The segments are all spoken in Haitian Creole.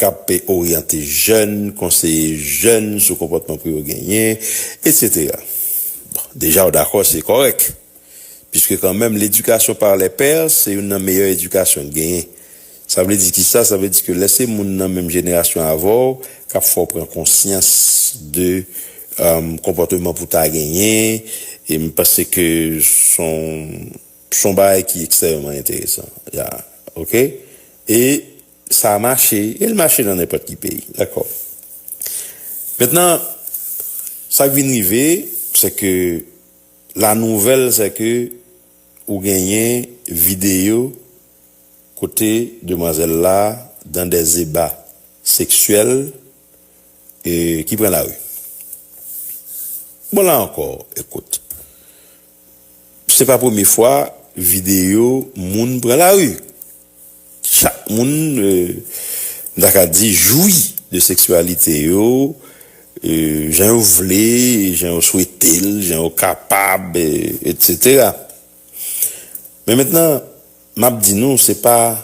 k ap oryante jèn, konseye jèn sou konpòtman pou yo genyen, etsetera. Bon, deja w dakò se kòrèk, piske kanmenm ledikasyon par les pairs se youn nan meyè edikasyon n genyen. Sa vle di ki sa? Sa vle di ke lè se moun nan menm jenerasyon avè w k ap fè w pran konsyans de konpòteman pou w ta genyen, e m panse ke s on s on bagay ki ekstrèmeman enteresan. Ya. Oke? E Sa a mache, e l mache nan nenpòt ki peyi. Dakò. Mentnan, sa k vin rive, se ke la nouvèl se ke ou genyen videyo kote demwazèl la dan dè zeba seksyèl e ki pran lari. Bon la ankò, ekout, se pa premye fwa videyo moun pran lari. Chak moun, m ta ka di, jwi de seksyalite yo jan yo vle, jan yo swete l, jan yo kapab, etsetera. Men mentnan, m ap di nou se pa,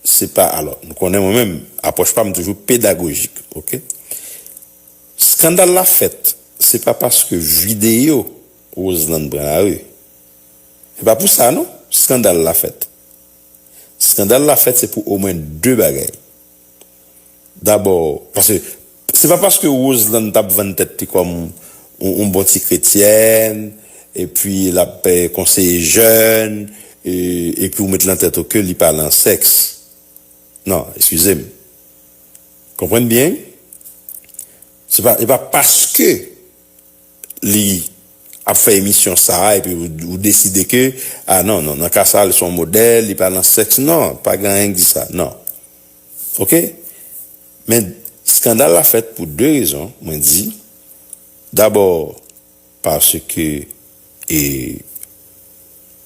se pa, alò, nou konnen mwen menm, apwòch pa m toujou pedagojik, ok. Skandal la fèt, se pa paske videyo Roseland pran lari. Se pa pou sa non, skandal la fèt. Skandal la fèt se pou omwen 2 bagay. Dabò, paske se pa paske Roseland tap vann tèt li kòm yon bon ti kretyèn, epi lap konseye jèn, epi ou met lan tèt ou ke li pa lan sèks. Non, eskize m. Konprann byen, se pa paske. li ap fè emisyon sa epi ou deside ke ah non non nan ka sa li son modèl li pa nan sèks non pa gen anyen ki di sa non ok men skandal la fèt pou 2 rezon mwen di dabò paske e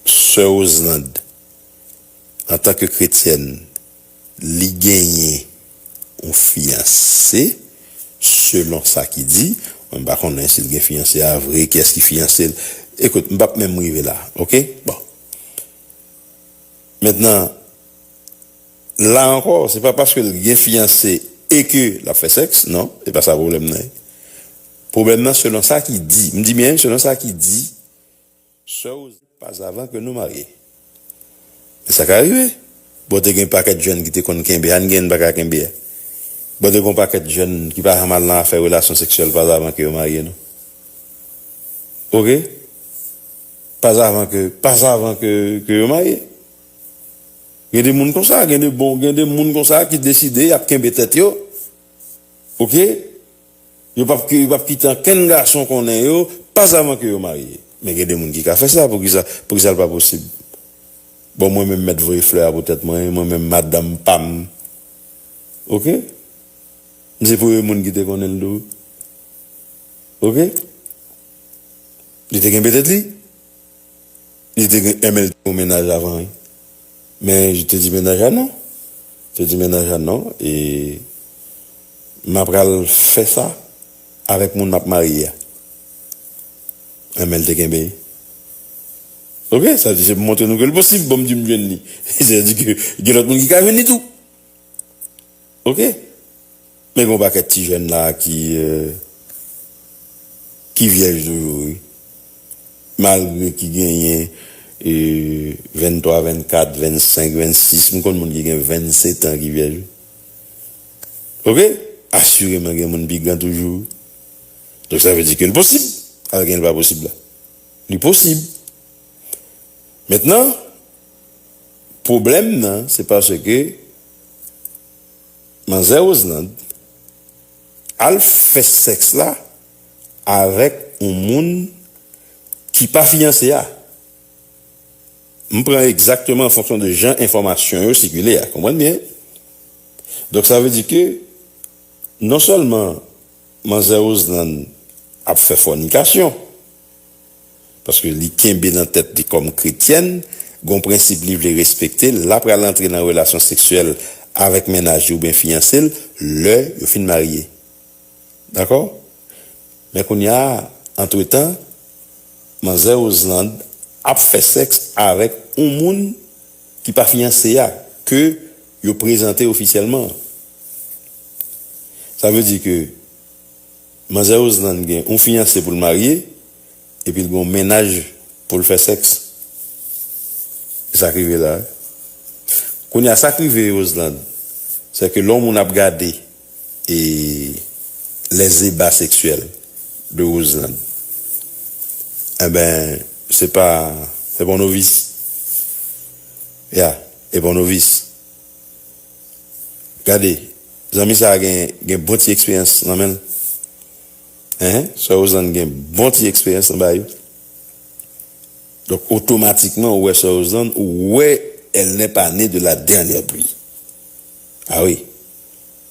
sè Roselande antanke kretyèn. li genyen yon fiyanse selon sa ki di mwen pa konnen sil gen fiyanse a vre kiyès ki fiyansel ekout m pap menm rive la ok bon mentnan la ankò se pa paskel gen fiyanse e ke lap fè sèks non se pa sa pwoblèm nan ye pwoblèm nan selon sa ki di m di byen selon sa ki di. Sè w pas avan ke nou marye. Men sa ka rive. Bon te gen pakèt jèn ki te konn kenbe a n gen n pa ka kenbe a. Bon te gen yon pakèt jèn ki pa janm al nan afè relasyon seksyèl pas avan ke yo marye non. Ok. Pas avan ke pas avan ke ke yo marye. Gen de moun konsa gen de bon gen de moun konsa ki deside y ap kenbe tèt yo ok. Yo p ap yo p ap kite ankenn gason konnen yo pas avan ke yo marye. Men gen de moun ki ka fè sa, poukisa poukisa l pa posib? Bon mwen menm mèt voye flè a pou tèt mwen, mwen menm madanm pa m ok m se premye moun ki te konnen l tou ok li te kenbe tèt li li te gen men l te gen yon mennaj avan wi. Men je te di mennaj a non. Te di mennaj a non e m apral fè sa avèk moun m ap marye a. Anben l te kenbe l. Ok, sa vle di se pou montre nou ke l posib pou m di m jwenn li. Sa vle di ke gen lòt moun ki ka jwenn li tou. Ok. Men gon pakèt ti jèn la ki ki vyèj toujou wi malgre ki genyen 23 24 25 26 m konn moun ki gen 20 setan ki vyèj wi ok asireman gen moun pi gran toujou donk sa vle di ke l posib al gen l pa posib la li posib mentnan pwoblèm nan se paske Manzè Roselande al fè sèks la avèk yon moun ki pa fiyanse a. M pran egzakteman an fonksyon de jan enfòmasyon yo sikile a. Konprann byen. Donk sa vle di ke non sèlman Manzè Roselande ap fè fònikasyon. Paske li kenbe nan tèt li kòm kretyèn, gon prensip li vle respekte, la pral antre nan relasyon seksyèl avèk mennaj li oubyen fiyanse l lè yo fin marye. Dakò? Men kounya a, antretan, manzè Roselande ap fè sèks avèk yon moun ki pa fiyanse a, ke yo prezante ofisyèlman an. Sa vle di ke. Manzè Roselande gen yon fiyanse pou l marye epi l gen yon mennaj pou l fè sèks. E sa k rive la? Kounye a sa k rive Roselande se ke lè yon moun ap gade e les ébats sexuels de Roselande enben se pa se pa yon novis ya e pa yon novis. Gade, zanmi sa a gen gen bon ti eksperyans nan men l. Enhen, sè Rozann gen bon ti eksperyans nan bayo. Donk otomatikman ou wè sè Rozann, ou wè elle n'est pas née de la dernière pluie. A wi,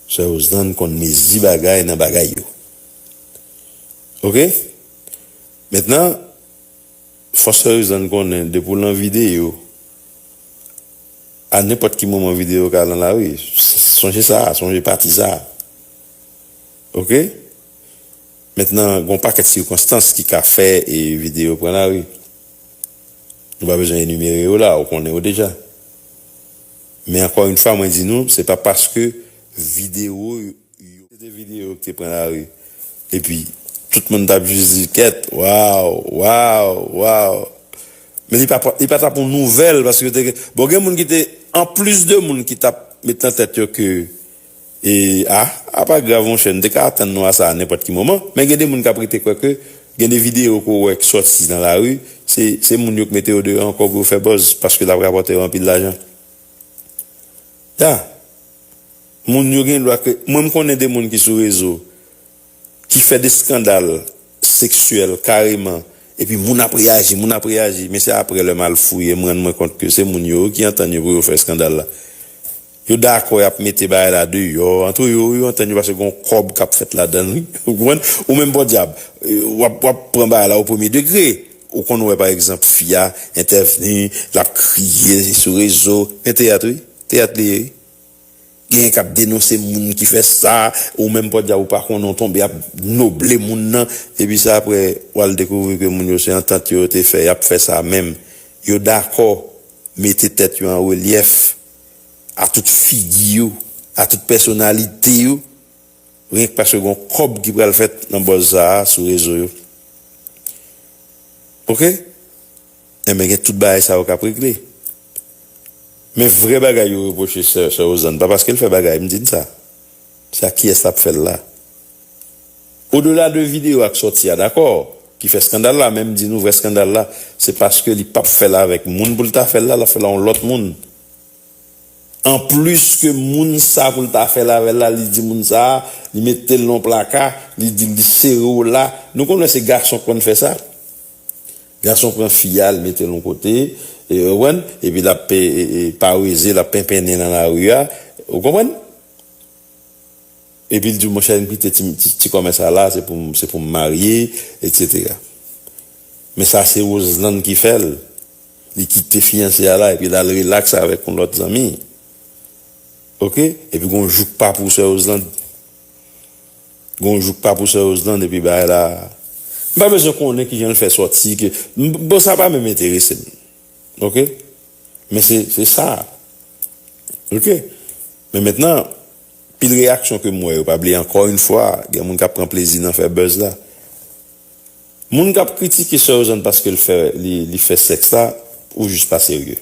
sè Rozann konn mezi bagay nan bagay yo. Ok, mentnan. Fò sè Rizann konnen depi w lan videyo a nenpòt ki moman videyo ka lan lari sonje sa a sonje pati sa a ok mentnan gon pakèt sikonstans ki ka fè videyo pran lari nou pa bezwen enimere yo la ou konnen yo deja men ankò yn fwa mwen di nou se pa paske videyo yo se te videyo ki te pran lari. Epi, tout moun t ap jis di, Kèt! Waw! Waw! Waw! Men li pa t ap yon nouvèl paske yo te gen. Bon, gen moun ki te, anplis de moun ki t ap met nan tèt yo ke, A, a pa grav monchè, nou te ka atann nou a sa a nenpòt ki moman. Men gen de moun k ap rete kwè ke gen de videyo ke w wè k sòti nan lari, se moun yo k mete yo deyò ankò pou yo fè buzz paske l ap rapòte yo anpil lajan. Ya! Moun yo gen dwa kre mwen m konnen de moun ki sou rezo ki fè de skandal seksyèl kareman epi moun ap reyaji moun ap reyaji men se aprè lè m al fouye m rann mwen kont ke se moun yo ki antann yo pou yo fè skandal la yo dakò y ap mete bagay la deyò antre yo wi yo antann yo paske gon kòb k ap fèt ladan l wi ou konprann ou menm pòdyab w ap w ap pran bagay la o premye degre ou konn wè pa egzanp fi a entèvni l ap kriye sou rezo men teyat wi. Teyat li ye wi. Genyen kap denonse moun ki fè sa, ou menm podyab ou pa konnen ou tonbe ap noble moun nan, epi sa aprè wal dekouvri ke moun yo se antant yo te fè yap fè sa menm, yo dakò mete tèt yo an relyèf a tout figi yo, a tout pèsonalite yo, ryenk paske gon kòb ki pral fèt nan bòz sa sou rezo yo ok, enben gen tout bagay sa yo kap regle. Men vrè bagay yo repwoche sè sè Ozanne pa paske l fè bagay m di n sa se ak kiyès l ap fè l la odela de videyo ak sòti a dakò ki fè skandal la men m di nou vrè skandal la se paske li pap fè l avèk moun pou l ta fè l la l ap fè l a yon lòt moun anplis ke moun sa pou l ta fè l avè l la li di moun sa li mete l nan yon plaka li di l li sere w la nou konnen se gason k konn fè sa. Gason pran fi a l mete l yon kote ou konprann epi l ap paweze l ap penpennen nan lari a ou konprann epi l di w monchè m kite ti kòmè sa la se pou m marye etc men sa se Roselande ki fè l li kite fiyanse a la epi l al rilaks avèk yon lòt zanmi ok epi gon jouk pa pou sè Roselande. Gon jou k pa pou sè Roselande epi bagay la m pa bezwen konnen kijan l fè sòti bon sa pa menm enterese m ok men se sa ok men mentnan pil reyaksyon ke m wè yo pa bliye ankò yn fwa gen moun k ap pran plezi nan fè buzz la moun k ap kritike sè Roselande paske l fè li fè sèks la ou jis pa serye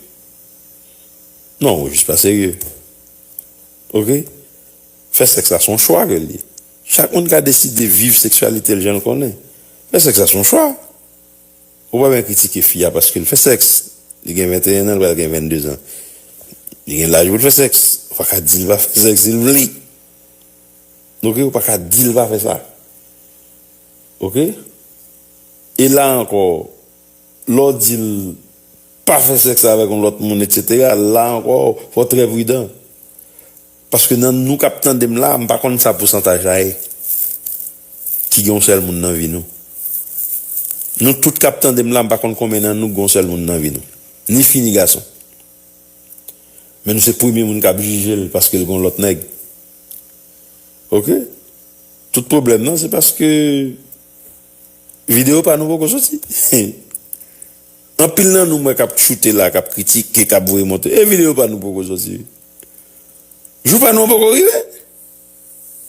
non ou jis pa serye. Ok Fè sèks la se yon chwa ke l ye. Chak moun ka deside viv seksyalite l jan l konnen. Fè sèks la se yon chwa. Ou pa byen kritike fi a paske l fè sèks. Li gen 21 an, l pral gen 22 an. Li gen laj pou l fè sèks. Ou pa ka di l pa fè sèks si l vle. Ok, ou pa ka di l pa fè sa. Ok E la ankò, lè w di l. Pa fè sèks avèk yon lòt moun etc. La ankò fò trè pridan. Paske nan nou kap tandem la a m pa konn sa pousantaj la ye ki gen yon sèl moun nan vi nou. Nou tout kap tandem la m pa konn konbyen nan nou ki gen yon sèl moun nan vi nou. Ni fi ni gason. Men nou se premye moun kap jije l paske l gen yon lòt nèg. Ok. Tout pwoblèm nan se paske. Video pa nou poko soti. Anpil nan nou m wè kap choute la kap kritike kap voye monte e video pa nou poko soti wi. Jou pa nou an poko rive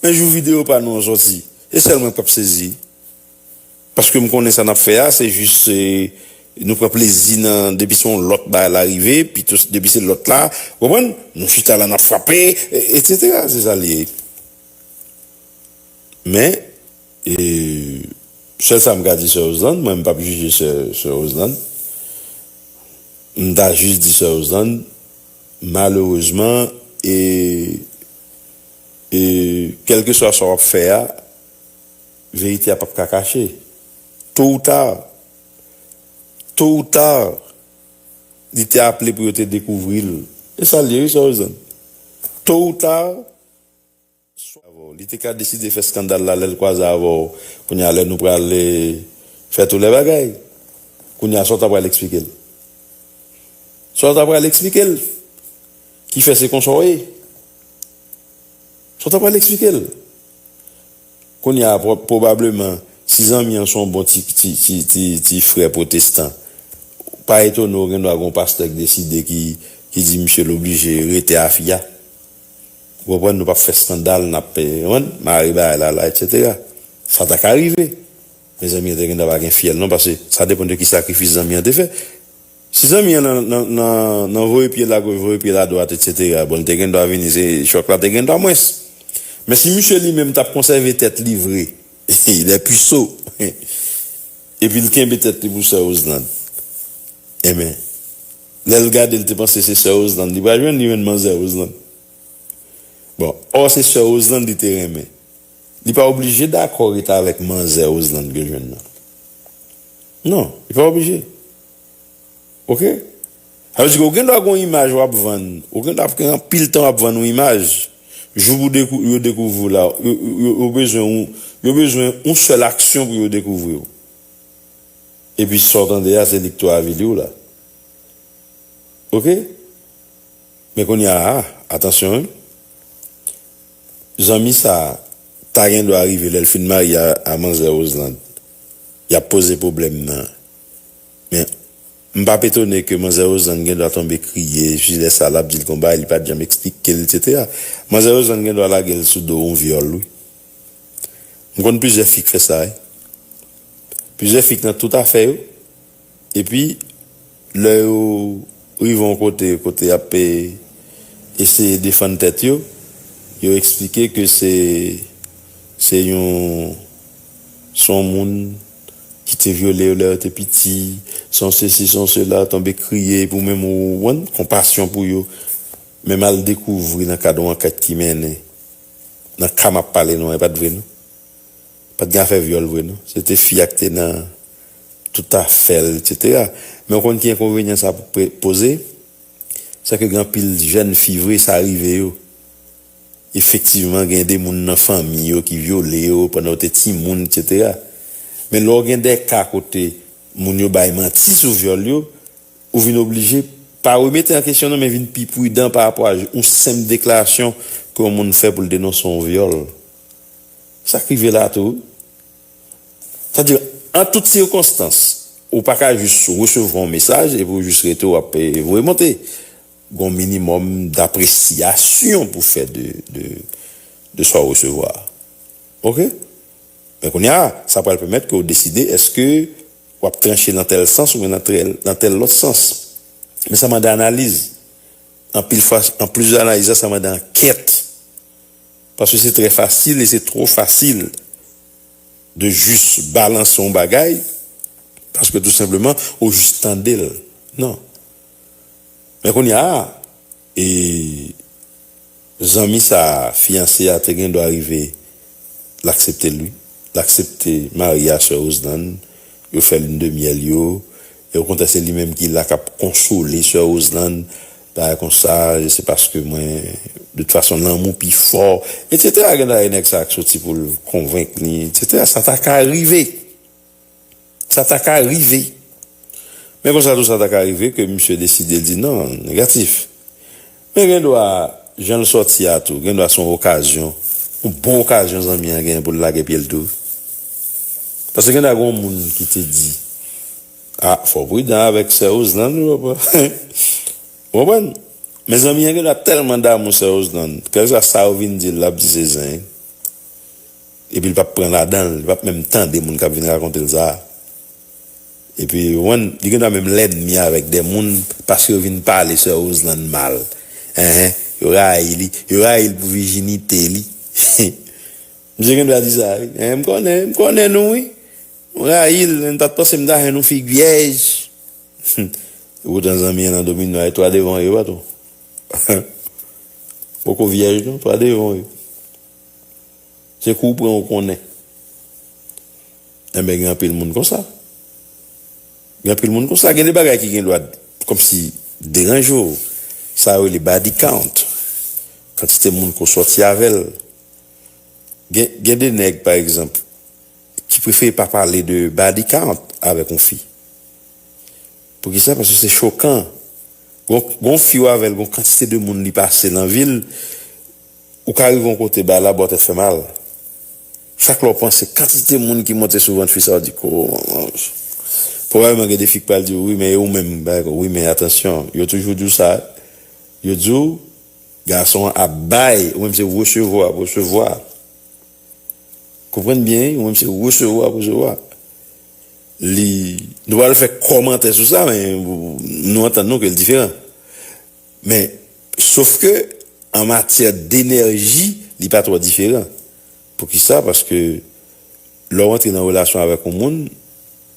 men jou video pa nou an soti se sèl mwen kap sezi paske m konnen sa nap fè a se jis nou pran plezi nan depi se yon lòt bagay la rive pito depi se lòt la ou konprann nou chita la nap frape etc se sa li ye men. E sèl sa m ka di sè Roselande, mwen m pap jije sè sè Roselande, m ta jis di sè Roselande malerezman e e kèlkeswa sa w ap fè a verite a pap ka kache to ou ta to ou ta li te aple pou yo te dekouvri l e sa l ye wi sè Roselande to ou ta. swa avè w li te ka deside fè skandal la lè l kwaze avè w kounye a lè nou pral fè tou lè bagay kounye a sa w ta pral eksplike l sa w ta pral eksplike l ki fè se konsa w ye sa w ta pral eksplike l kounye a pwobableman si zanmi an se yon bon ti ti frè pwotestan pa etone w gen dwa gen yon pastè k deside ki di misye l oblije rete a fi a. Ou konprann nou pap fè skandal nap konprann mare bagay la la etc. Sa ta ka rive men zanmi an te gentan pa gen fyèl non pase sa depan de ki sakrifis zanmi an te fè si zanmi an nan voye pyel a goch voye pyel a dwat etc bon li te gendwa vini se chòk la te gendwa mwens men si misye li menm tap konsève tèt li vre il est puceau epil kenbe tèt li pou sè Roselande enben. Lèl gade l te panse se sè Roseland li pral jwenn li jwenn manzè Roseland bon or se sè Roseland li te renmen li pa oblije dakò ret avèk manzè Roseland ke l jwenn nan non li pa oblije ok sa vle di ke ou gen dwa gen yon imaj wap vann ou gen dwa ap gen anpil tan wap vann yon imaj jou pou yo dekouvri w la yo bezwen yon sèl aksyon pou yo dekouvri w. Epi sa w tande a se li k tou avili w la. Ok. Men kounye a a, atansyon wi. Zanmi sa a ta gen dwa rive lè l fin marye a manzè Roselande, y ap poze pwoblèm nan. Men, m p ap etone ke manzè Roselande gen dwa tonbe kriye, epi lè sa l ap di l gen yon bagay li pa t janm esplike l, eksetera. Manzè Roselande gen dwa lage l sou do yon vyòl wi. M konn plizyè fi k fè sa wi. Plizyè fi k nan tout afè yo epi lè yo rive yon kote kote y ap eseye defann tèt yo, yo eksplike ke se se yon se yon moun ki te vyole yo lè yo te piti, se yon sesi se yon sela, tonbe kriye epi ou menm ou konpasyon pou yo menm al dekouvri nan kad yon ankèt ki mennen. nan ka map pale nou an epat vre non pat gen afè vyòl vre non se te fi a ki te nan tout afèl etc men ou konn ki enkonvenyan sa poze se ke gen anpil jèn fi vre sa rive yo efektivman gen de moun nan fanmi yo ki vyole yo pandan yo te timoun etc men lè ou gen de ka kote moun yo bay manti sou vyòl yo Ou vin oblije, pa remete an kesyon non men vin pi pridan pa rapò a yon senp deklarasyon ke yon moun fè pou l denonse yon vyòl. Sa k rive la tou wi. Sa vle di, an tout sikonstans, ou pa ka jis resevwa yon mesaj epi ou jis rete w ap voye monte. Gen yon minimòm dapresiyasyon pou fè de sa w resevwa a. Ok? Men kounye a, sa pral pèmèt ke w deside èske W ap tranche nan tèl sans oubyen nan tèl lòt sans. Men sa mande analiz. Anpil fwa, an plis de analiz la, sa mande ankèt. Paske se trè fasil e se twò fasil de jis balanse yon bagay paske tou senpleman ou jis tande l. Non. Men kounye a, E zanmi sa fiyanse a te gen dwa rive l aksepte l wi. L aksepte mari a sè Roselande, yo fè lune de miel yo, e okontrè se li menm ki la k ap konsole sè Roselande, bagay konsa, je se paske mwen, de tout fason lanmou pi fò, etsetera Gen dwa e nèg sa k soti pou l konvenk li, etsetera Sa ta ka rive! Sa ta ka rive. Men konsa tou sa ta ka rive ke misye deside di non, negatif. Men gen dwa, jan l sòti a tou, gen dwa se yon okazyon, yon bon okazyon zanmi an genyen pou l lage pye l tou. Paske gen dwa gen yon moun ki te di, A, fò w pridan avèk sè Roselande wi papa. Ou konprann? Men zanmi an gen dwa tèlman damou sè Roselande, kèlkeswa sa yo vin di l, l ap di se zen. Epi li pap pran ladan l, li pap menm tande moun kap vin rakonte l sa. Epi ou konprann, li gendwa menm lènmi avèk de moun paske yo vin pale sè Roselande mal. Enhen, yo rayi li, yo rayi l pou vijinite li. Misye gendwa di sa wi. Enhen, m konnen, m konnen nou wi. Nou rayi l, men m pat panse m ta jwenn yon fi gyèj. Epoutan zanmi an nan domino a, e 3 devan yo, e pa tou. Poko vyèj non, 3 devan yo. Se kou ou pran ou konnen. Enben gen anpil moun konsa. Gen anpil moun konsa. Gen de bagay ki gen dwa kòmsi deranje w. Sa yo rele body count. Kantite moun ke w sòti avè l. Gen de nèg pa egzanp ki prefere pa pale de body count avèk yon fi. Poukisa? Paske se chokan. Gon fi w avè l gon kantite de moun li pase nan vi l. Ou ka rive yon kote bay la ba w tèt fè mal. Chak lè w panse kantite moun ki monte sou vant fi sa w di ko manj. Pwobableman gen de fi k pral di w wi men e ou menm bay ko wi men atansyon yo toujou di w sa yo di w gason an ap bay ou menm se resevwa w ap resevwa. Konprann byen wi ou menm se resevwa w ap resevwa. Li nou pa pral fè kòmantè sou sa men nou antann nou ke l diferan. Men, sof ke, an matyè denèji, li pa twò diferan. Poukisa? Paske, lè w antre nan relasyon avèk yon moun,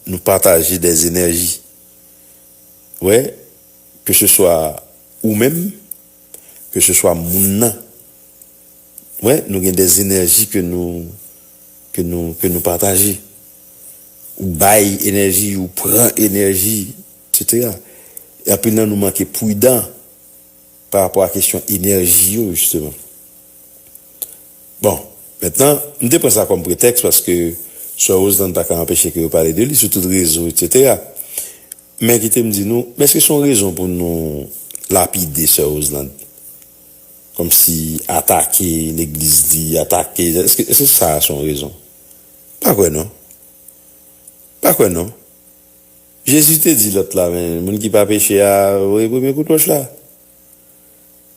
nou pataje dè enèji. Ou wè? Ke se swa ou menm, ke se swa moun nan. Ou wè? Nou gen dè enèji ke nou, ke nou, ke nou pataje. Ou bay enèji, ou pran enèji. Setera. E anpil nan nou manke prudan pa rapò a kesyon enèji yo jisteman. Bon, mentnan, m te pran sa kòm pretèks paske Soeur Roselande pa ka anpeche ke yo pale de li sou tout rezo etsetera. Men kite m di nou, men èske se yon rezon pou nou lapide Soeur Roselande? Kòm si atake legliz li, atake, èske èske sa a se yon rezon? M pa kwè non. M pa kwè non. Jezi te di lòt la, men moun ki pa peche a voye premye kout wòch la.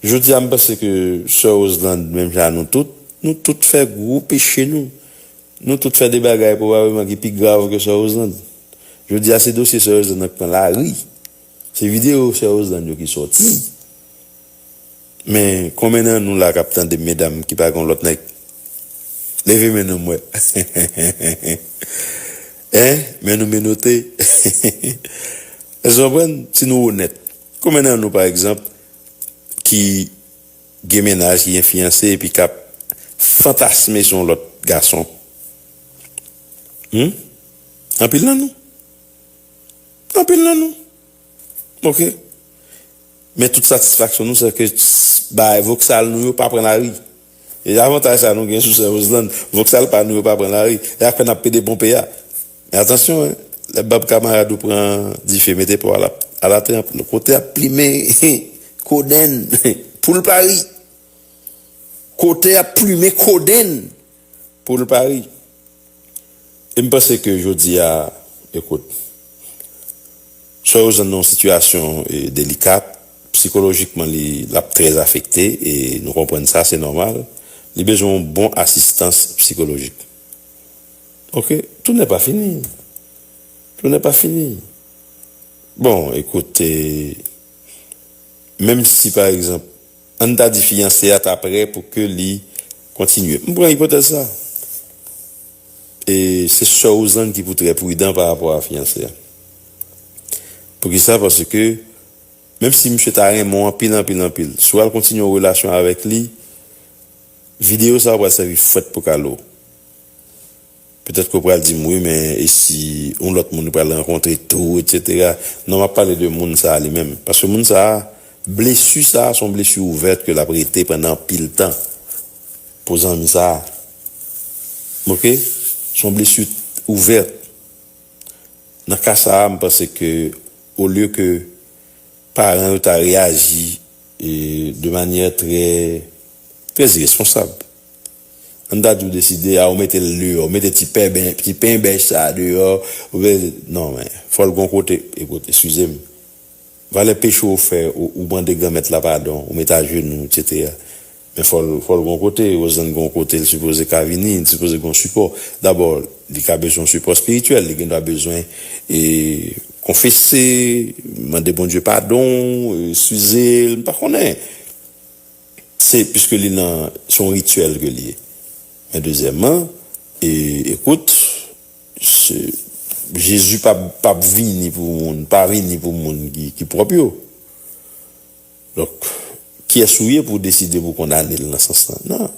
Jodi a m panse ke sè Roselande menm jan a nou tout, nou tout fè gwo peche nou. Nou tout fè de bagay pwobableman ki pi grav ke sè Roselande. Jodi a se dosye sè Roselande nan k pran lari. Se videyo sè Roselande yo ki sòti. Men konbyen nan nou la kap tandem medam ki pa gen yon lòt nèg leve men nou m wè hein men nou menote èske nou konprann si nou onèt konbyen nan nou pa egzanp ki gen mennaj ki gen fiyanse epi kap fantasme sou yon lòt gason humm anpil nan nou anpil nan nou ok. Men tout satisfaksyon nou sè ke bagay voksal nou yo pa pran lari. E avantaj sa nou gen sou sè Roselande, voksal pa nou yo pa pran lari. E ak fè nap pede ponpe a. Men atansyon hein, lè bab kamarad ou pran dife mete po a la tranp nou kote ap plimen kodenn poul pa ri. Kote ap plumen kodenn poul pa ri. E m panse ke jodi a, ekout, swa yo jwenn nan yon sitiyasyon delikat, psikolojikman li l ap trè afekte e nou konprann sa, se nòmal, li bezwen yon bon asistans psikolojik. Oke, tounen pa fini. Tounen pa fini. Bon, ekout, menm si pa egzanp. An n ta di fiyanse a ta prè pou ke li kontinye. M pran ipotèz sa. E se sè Rouzann ki pou trè pridan pa rapò a fiyanse a. Poukisa? Paske menm si misye ta renmen w anpil anpil anpil, si w al kontinye yon relasyon avèk li, videyo sa yo pral sèvi fwèt pou kale w. Petèt ke w pral di m, wi men e si yon lòt moun ou pral rankontre tou etc. Non m ap pale de moun sa a li menm. Paske moun sa a, blesu sa a se yon blesu ouvèt ke l ap rete pandan anpil tan pou zanmi sa a. Ok? Se yon blesu ouvèt. Nan ka sa a m panse ke olye ke paran yo ta reyaji de manyè trè, trè iresponsab. An ta di w deside a ou mete l deyò, mete ti pèben, ti pen bèch sa a deyò, ou vle, non men, fò l gon kote, ekout, eskize m, valè peche ou fè, ou mande Granmèt la padon, ou mete ajenou, etsetera, men fò l, fò l gon kote, Roselande gon kote l sipoze ka vini, li sipoze gon sipò, dabò, li ka bezwen yon sipò espirityèl, li gen dwa bezwen e konfese, mande Bondye padon, eskize l, m pa konnen. Se piske li nan se yon rityèl ke li ye. Men dezyèman, e ekout, se Jezi pa pap vini pou moun, pa vini pou moun ki pwòp yo. Donk, kiyès ou ye pou w deside pou w kondane l nan sans lan? Nan.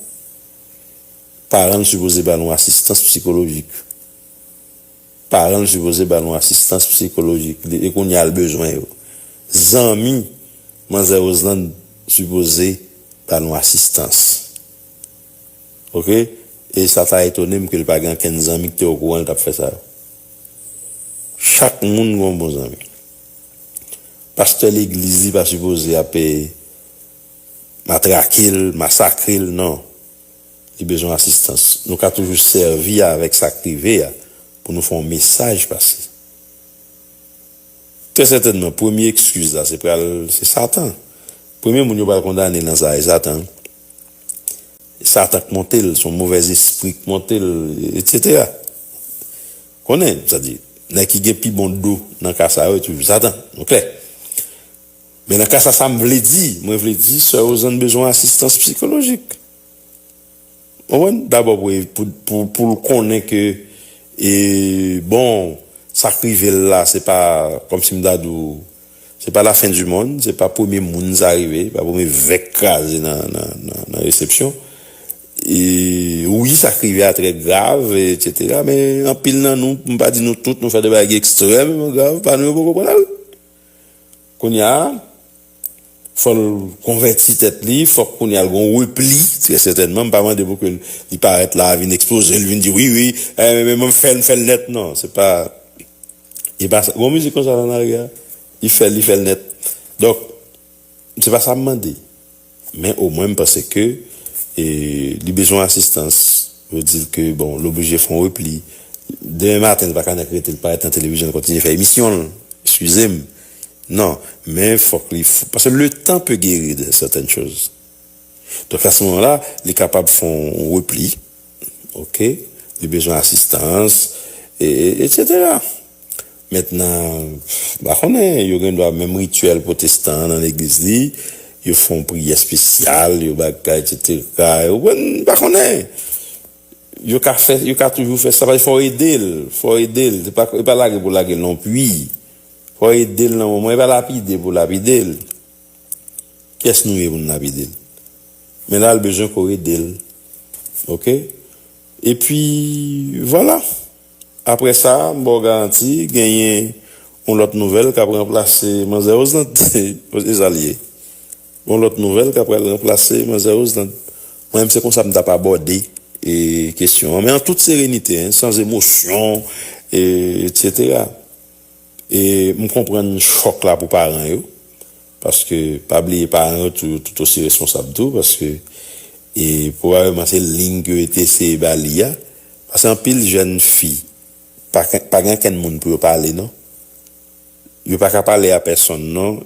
Paran l sipoze ba nou asistans psikolojik. Paran l sipoze ba nou asistans psikolojik li e kounya l bezwen yo. Zanmi manzè Roseland sipoze ba nou asistans. Ok e sa ta etone m ke l pa gen ankenn zanmi ki te okouran l t ap fè sa yo. Chak moun gen yon bon zanmi. Pastè legliz li pa sipoze ap matrake l, masakre l non. Li bezwen asistans. Nou ka toujou sèvi avèk sa k rive a pou nou fè yon mesaj pase. Trè sètènman, premye ekskiz la se pral se Satan. Premye moun yo pral kondane nan sa a, se Satan. Se Satan k monte l, se yon movèzespri k monte l, etsetera. Konnen, sètadi, nèg ki gen pi bon do nan ka sa yo, se toujou Satan. Nou klè? Men nan ka sa sa m vle di, mwen vle di sè Ozanne bezwen asistans psikolojik. Ou konprann? Dabò pou e pou l konnen ke e bon sa k rive l la se pa kòm si m ta di w se pa la fen di mond, se pa premye moun sa rive, se pa premye vè k kraze nan resepsyon. E wi sa k rive a trè grav etsetera men anpil nan nou, m pa di nou tout, nou fè de bagay ki ekstrèmeman grav, pa nou yo poko pran nan l. Kounya fò l konvèti tèt li, fòk kounya l gen yon repli, trè sètènman, m pa mande pou ke li parèt la, vin ekspoze l, vin di wi wi, m ap fè l, m fè l nèt, non, se pa e pa sa, gen yon mizik konsa Lanare a, li fè l, li fè l nèt, donk se pa sa m mande. Men o mwen m panse ke li bezwen asistans. Yo di l ke bon, l oblije fè yon repli. Demen maten li pa ka nèk rete, li pa rete nan televizyonn kontinye fè emisyon l. Eskize m. Non. Men fòk li, paske le tan pe geri de sètèn choz. Donk a se moman la, li kapab fè yon repli. Ok. Li bezwen asistans. E. Etsetera. Mentnan, m pa konnen, yo gen dwa menm rityèl pwotestan an nan legliz li, yo fè yon priyè espesyal, yo bagay esetera, ou konprann, m pa konnen. Yo ka fè, yo ka toujou fè sa, paske fò w ede l, fò w ede l, se pa, e pa lage pou lage l non pui, fò w ede l nan moman, e pa lapide pou lapide l, kiyès nou ye pou n lapide l? Men la l bezwen ke w ede l, ok? Epi, vwala! Aprè sa, m ba w garanti, genyen yon lòt nouvèl k ap ranplase manzè Roselande. Se sa l ye. Gen yon lòt nouvèl k ap pral ranplase manzè Roselande. Mwen menm se konsa m t ap abòde kesyon an. Men an tout serenite, sans emosyon, eksetera. E m konprann chòk la pou paran yo. Paske pa bliye paran yo tou yo tout osi responsab tou paske e pwobableman se lign ke yo te eseye ba li a paske anpil jèn fi pa pa gen ankenn moun pou yo pale non yo pa ka pale a pèsonn non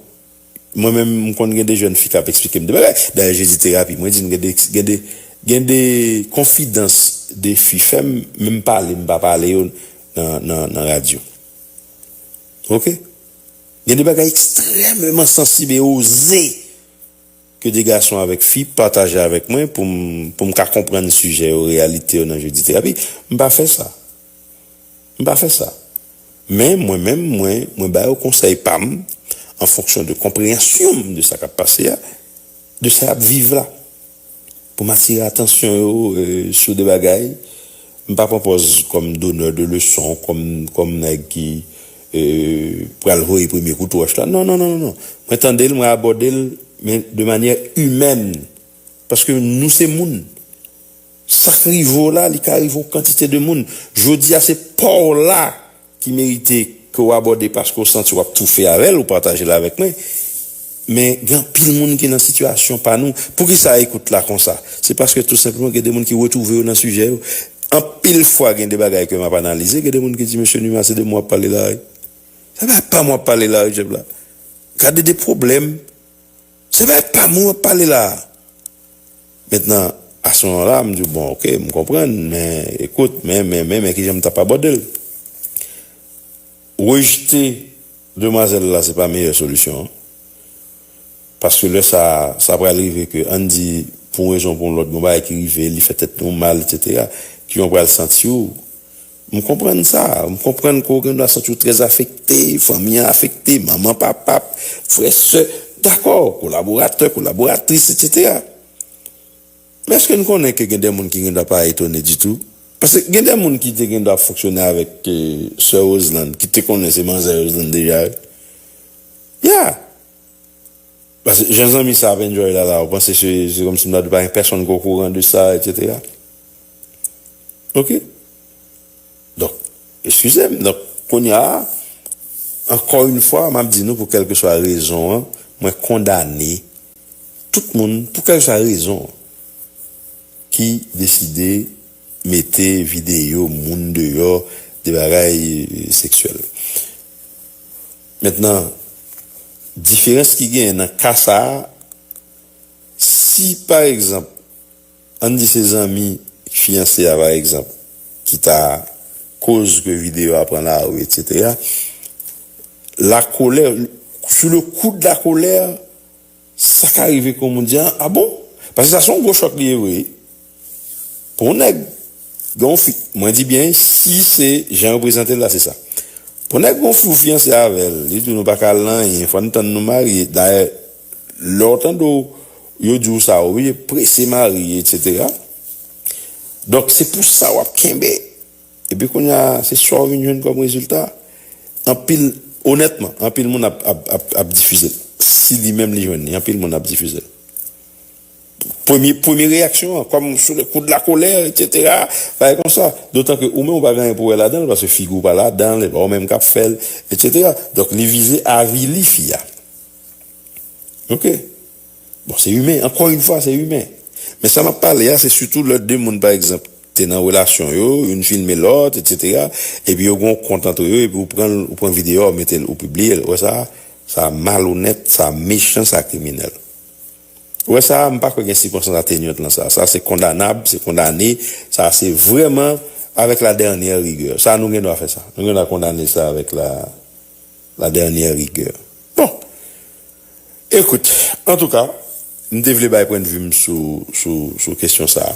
mwen menm m konn gen de jèn fi kap esplike m de bagay dayè je di terapi mwen di n gen de gen de gen de konfidans de fi fè m menm pale m pa pale yo nan nan nan radyo ok. Gen de bagay ekstrèmeman sansib e oze ke de gason avèk fi pataje avèk mwen pou m pou m ka konprann sijè yo, reyalite yo nan Jodi Terapi. M pa fè sa. M pa fè sa. Men, mwen menm, mwen mwen ba yo konsèy pa m an fonksyon de konpreyansyon m de sa k ap pase a, de sa y ap viv la. Pou m atire atansyon yo sou de bagay, m pa pran pòz kòm donneur de leçon, kòm nèg ki pral voye premye kout wòch la. Non, non, non, non. Mwen tande l, mwen abòde l, men de manyè imèn. Paske nou se moun. Sa k rive w la, li ka rive yon kantite de moun. Jodi a, se pa w la. ki merite ke w abòde paske w santi w ap toufe avè l, ou pataje l avèk mwen. Men, gen anpil moun ki nan sitiyasyon pa nou. Poukisa ekout la konsa? Se paske tou senpleman gen de moun ki retwouve yo nan sijè yo. Anpil fwa gen de bagay ke m ap analize, gen de moun ki di, Mesye Numa, se de mwen w ap pale la wi. Se pa pa m w ap pale la wi, Jeff la. Gade de pwoblèm! Se pa e pam ou ap pale la a. Mentnan, a se moman la a, m di w, bon, ok, m konprann, men, ekout, men, men, men, men ki jan m t ap abòde l. Rejte demwazèl la se pa meyè solisyon an. Paske lè sa a, sa pral rive ke, ann di, pou yon rezon ou pou yon lòt, gen yon bagay ki rive li, li fè tèt nou mal, eksetera, ki jan w pral santi w? M konprann sa. M konprann ke w gen dwa santi w trè afekte, fanmi an afekte, manman, papa, frè, sè, dakò, kolaboratè, kolaboratris, etsetera. Men eske n konnen ke gen de moun ki gen dwa pa etone ditou? Paske gen de moun ki te gen dwa ap fonksyone avèk sè Roselande, ki te konnen se manzè Roselande deja wi. Ya! Paske jan zanmi sa ap enjoy la la, ou panse se kòmsi m ta di pa gen pèsonn ki okouran de sa, etsetera. Ok Donk Eskize m Donk Kounya Ankò yn fwa m ap di nou pou kèlkeswa rezon an mwen kondane tout moun pou kèlkeswa rezon an ki deside mete videyo moun deyò de bagay seksyèl. Mentnan diferans ki genyen nan ka sa si pa egzanp An n di se zanmi fiyanse a pa egzanp ki ta koz ke videyo a pran lari etsetera, la colère, sous le coup de la colère, sa ka rive ke w moun di, ah bon? Paske sa se yon gwo chòk li ye vre wi pou yon nèg. Gen yon fi, mwen di byen si se jan yo prezante l la se sa. Pou nèg gen yon fi ou fiyanse avè l, li di w nou pa ka al nan anyen, fò n tann nou marye, dayè lè w tande w yo di w sa w oblije prese marye etc. Donk se pou sa w ap kenbe epi kounye a se sa w vin jwenn kòm rezilta. Anpil, onètman anpil moun ap difize l si li menm li jwenn li, anpil moun ap difize l. Premye reyaksyon an, kòm sou le kou de la kolè, eksetera, bagay konsa. Dotan ke ou menm ou pa gen anyen pou wè ladan l, paske figi w pa ladan l, e pa ou menm k ap fè l, eksetera. Donk li vize avili fi a. Ok. Bon, se imen, ankò yon fwa, se imen. Men sa m ap pale a, se sitou lè de moun, pa egzanp, te nan relasyon yo, youn filme lòt, eksetera, epi yo gen yon kont antre yo, epi ou pran l, ou pran videyo a, ou mete l, ou pibliye l. Ou wè sa? Sa malonèt, sa mechan, sa kriminèl. Ou wè sa a, m pa kwè gen sikonstans atenyant lan sa a. Sa a se kondanab, se kondane, sa a se vrèman avèk la dènyè rigè. Sa a nou gen dwa fè sa. Nou gen dwa kondane sa avèk la la dènyè rigè. Bon! Ekout, antouka, m te vle bay pwennvi m sou sou sou kesyon sa a.